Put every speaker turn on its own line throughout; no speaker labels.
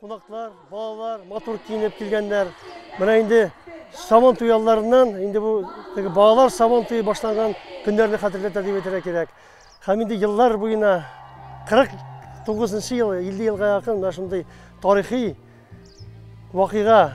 Кунаклар, балалар матур киенеп килгәннәр. Менә инде сабан туй алларыннан, инде бу теге балалар сабан туе башланган көннәрне хәтерләтә дип әйтергә кирәк. Һәм инде еллар буена 49 ел, 50 елга якын менә шундый тарихи вакыйга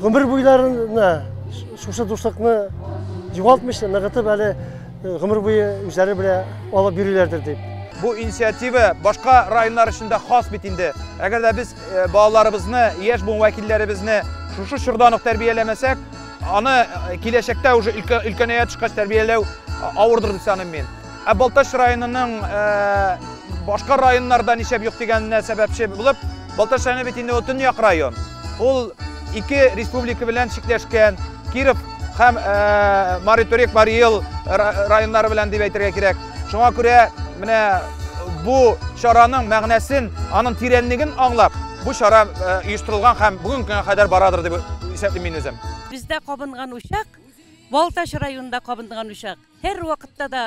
Гомер буйларына шушы дуслыкны югалтмыйча, ныгытып әле э, гомер буе үзләре белән алып йөриләрдер дип. Бу инициатива башка районнар өчен дә хас бит инде. Әгәр дә без э, балаларыбызны, яшь буын вәкилләребезне шушы чордан ук тәрбияләмәсәк, аны э, киләчәктә уже өлкәнәя төшкәч тәрбияләү авырдыр дип саныйм мин. Ә Балтач районының башка районнарда ничәп юк дигәненә сәбәпче булып, Балтач районы бит инде төньяк район. Ул ике республика белән чикләшкән, Киров һәм Мари Төрек, Мари Ел районнары белән дип әйтергә кирәк. Шуңа күрә менә бу чараның мәгънәсен, аның тирәнлеген аңлап, бу чара оештырылган һәм бүгенге көнгә кадәр барадыр дип исәплим мин үзем. Бездә кабынган учак, Балтач районында кабынган учак. Һәрвакытта да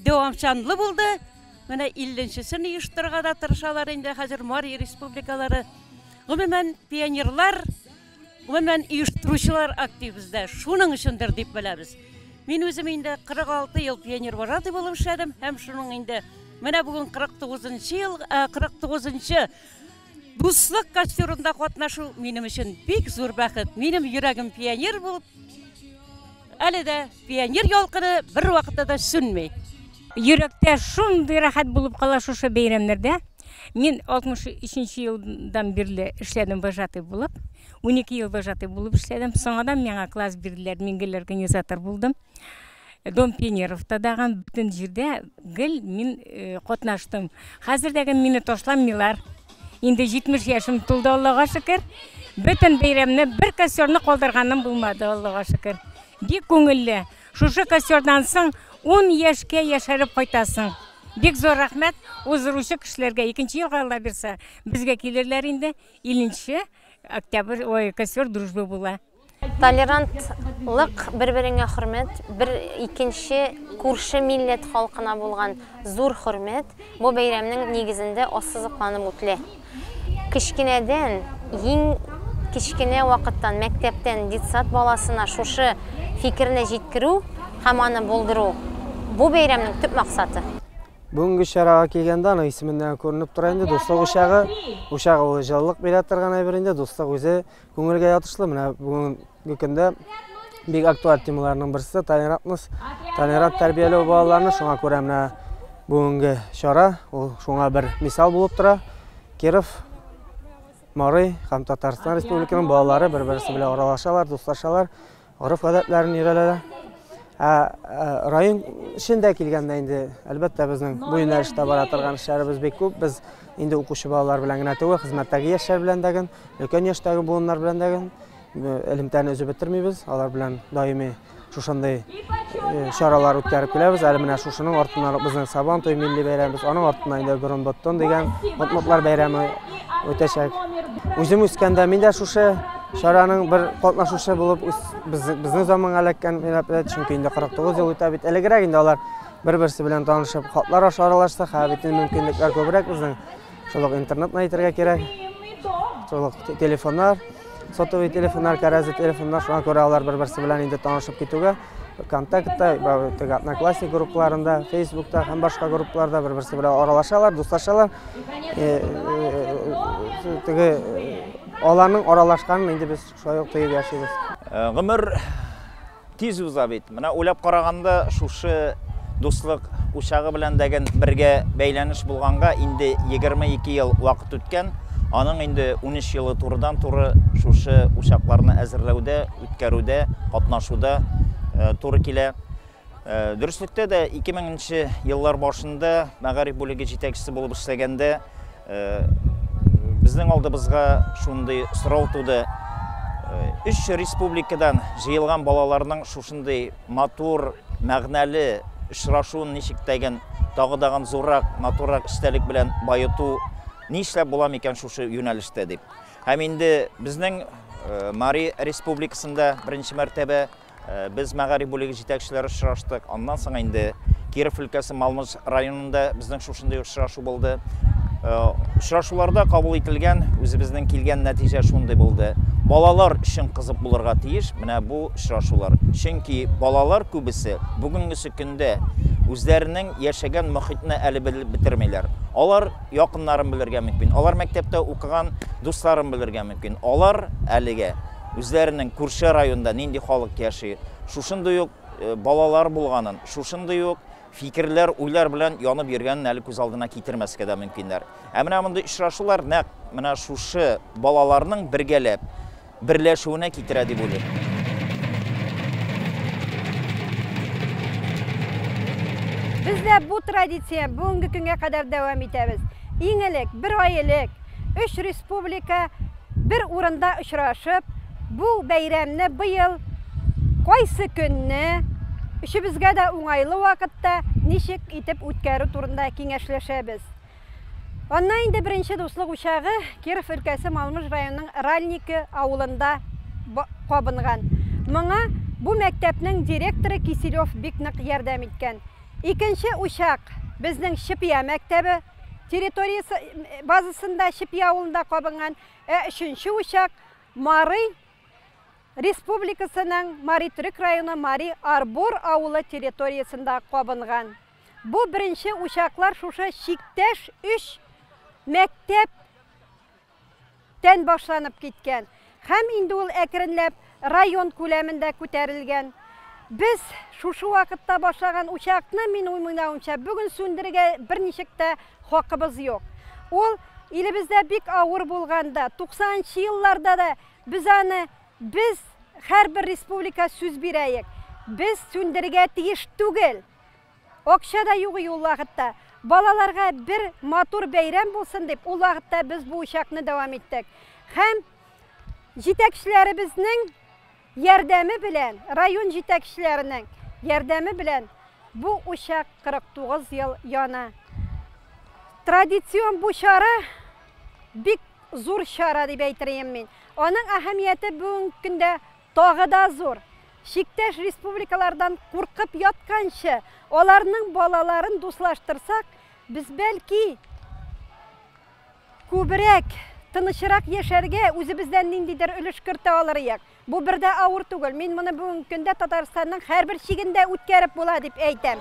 дәвамчанлы булды. Менә илленчесен оештырырга да тырышалар инде хәзер Марий республикалары. Гомумән, пионерлар, гомумән, оештыручылар актив бездә. Шуның өчендер дип беләбез. Мин үзем инде 46 ел пионер вожатый булып эшләдем һәм шуның инде менә бүген 49 ел, 49 нчы Дуслык костюрында катнашу минем өчен бик зур бәхет. Минем йөрәгем пионер булып, әле дә пионер ялкыны бер вакытта да сүнми. Йөрәктә шундый рәхәт булып кала шушы бәйрәмнәрдә. Мин 63 елдан бирле эшләдем вожатый булып. 12 ел вожатый булып эшләдем. Соңадан миңа класс бирделәр, мин гел организатор булдым. Дом пионеровта даган бүтін жерде гел мин катнаштым. Хәзер дәге мине ташламыйлар. Инде 70 яшем тулды, Аллага шөкер. Бөтен бәйрәмне бер костерны калдырганым булмады, Аллага шөкер. Бик күңелле. Шушы костердан соң 10 яшькә яшәреп кайтасың. Бик зур рәхмәт уздыручы кешеләргә. Икенче елга Алла бирсә, безгә килерләр инде. 50 октябрь, ой, костер дружбы була. Толерантлык, бер-береңә хөрмәт, бер икенче күрше милләт халкына булган зур хөрмәт бу бәйрәмнең нигезендә ассызыкланып үтелә. Кечкенәдән, иң кечкенә вакыттан, мәктәптән детсад баласына шушы фикерне җиткерү һәм аны булдыру, бу бәйрәмнең төп максаты. Бүгенге чарага килгәндә, аның исеменнән күренеп тора инде, дуслык учагы. Учагы ул җылылык бирә торган әйбер инде, дуслык үзе Күңелгә ятышлы менә бүгенге көндә бик актуаль темаларның берсе толерантность. Толерант тәрбияләү балаларны шуңа күрә менә бүгенге чара ул шуңа бер мисал булып тора. Киров, Марый һәм Татарстан Республиканың балалары бер-берсе белән аралашалар, дуслашалар. Гореф-гадәтләрен өйрәнәләр. Ә район эчендә килгәндә инде, әлбәттә, безнең бу юнәлештә бара торган эшләребез бик күп. Без инде укучы балалар белән генә түгел, хезмәттәге яшьләр белән дә гел, өлкән яшьтәге буыннар белән дә гел элемтәне өзеп бетермибез. Алар белән даими шушындый чаралар үткәреп киләбез. Әле менә шушының артыннан безнең Сабан туй милли бәйрәмебез, аның артыннан инде Борын Боттон дигән Ботмотлар бәйрәме үтәчәк. Үзем үскәндә мин дә шушы Чараның бер катнашучысы булып безнең заманга эләккән милләтләр, чөнки инде 49 ел үтә бит. Элегрәк инде алар бер-берсе белән танышып, хатлар аша аралашса, хәзер бит мөмкинлекләр күбрәк безнең. Шул ук интернетны әйтергә кирәк. Шул ук телефоннар, сотовый телефоннар, кәрәзле телефоннар, шуңа күрә алар бер-берсе белән инде танышып китүгә, вконтактта теге одноклассник группаларында фейсбукта һәм башка группаларда бер берсе белән аралашалар дуслашалар теге аларның аралашканын инде без шулай ук тоеп яшибез гомер тиз уза бит менә уйлап караганда шушы дуслык учагы белән дәген бергә бәйләнеш булганга инде 22 ел вакыт үткән аның инде 13 елы турыдан туры шушы учакларны әзерләүдә үткәрүдә, катнашуда туры килә. Дөреслектә дә 2000 нче еллар башында мәгариф бүлеге җитәкчесе булып эшләгәндә безнең алдыбызга шундый сорау туды. Өч республикадан җыелган балаларның шушындый матур, мәгънәле очрашуын ничек тәген тагы дагын зуррак, матуррак истәлек белән баету нишләп була микән шушы юнәлештә дип. Һәм инде безнең Мари республикасында беренче мәртәбә без мәгариф бүлеге җитәкчеләре очраштык. Аннан соң инде Киров өлкәсе Малмыж районында безнең шушындый очрашу булды. Очрашуларда кабул ителгән үзебезнең килгән нәтиҗә шундый булды. Балалар өчен кызык булырга тиеш менә бу очрашулар. Чөнки балалар күбесе бүгенгесе көндә үзләренең яшәгән мохитне әле белеп бетермиләр. Алар Якыннарым белергә мөмкин. Алар мәктәптә укыган дусларым белергә мөмкин. Алар әлегә үзләренең күрше районда нинди халык яши, шушындый ук э, балалар булганын, шушындый ук фикерләр, уйлар белән янып йөргәнен әле күз алдына китермәскә дә мөмкиннәр. Ә менә мондый очрашулар нәкъ менә шушы балаларның бергәләп берләшүенә китерә дип уйлыйм. Бездә бу традиция бүгенге көнгә кадәр дәвам итәбез. Иң элек, бер ай элек, өч республика бер урында очрашып, бу бәйрәмне быел кайсы көнне өчебезгә дә уңайлы вакытта ничек итеп үткәрү турында киңәшләшәбез. Анна инде беренче дуслык учагы Киров өлкәсе Малмыж районының Ральники авылында кабынган. Моңа бу мәктәпнең директоры Киселев бик нык ярдәм иткән. Икенче учак безнең Чепия мәктәбе территориясе базасында Чепия авылында кабынган. Ә өченче учак Марый республикасының Мари Төрек районы Мари Арбор авылы территориясендә кабынган. Бу беренче учаклар шушы чиктәш өч мәктәп тән башланып киткән. Һәм инде ул әкренләп район күләмендә күтәрелгән. Без шушы вакытта башлаган учакны, мин уймыйнаумча, бүген сүндерергә берничек тә хакыбыз юк. Ул илебездә бик авыр булганда, 90 нчы елларда да без аны, без һәрбер республика сүз бирәек, без сүндерергә тиеш түгел. Акча да юк и ул вакытта. Балаларга бер матур бәйрәм булсын дип, ул вакытта без бу учакны дәвам иттек. Һәм җитәкчеләребезнең ярдәме белән, район җитәкчеләренең ярдәме белән бу учак 49 ел яна. Традицион бу чара бик зур чара дип әйтер идем мин. Аның әһәмияте бүгенге көндә Тагы да зур! Чиктәш республикалардан куркып ятканчы, аларның балаларын дуслаштырсак, без, бәлки, күбрәк, тынычрак яшәргә үзебездән ниндидер өлеш кертә алыр идек. Бу бер дә авыр түгел. Мин моны бүгенге көндә Татарстанның һәрбер чигендә үткәреп була дип әйтәм.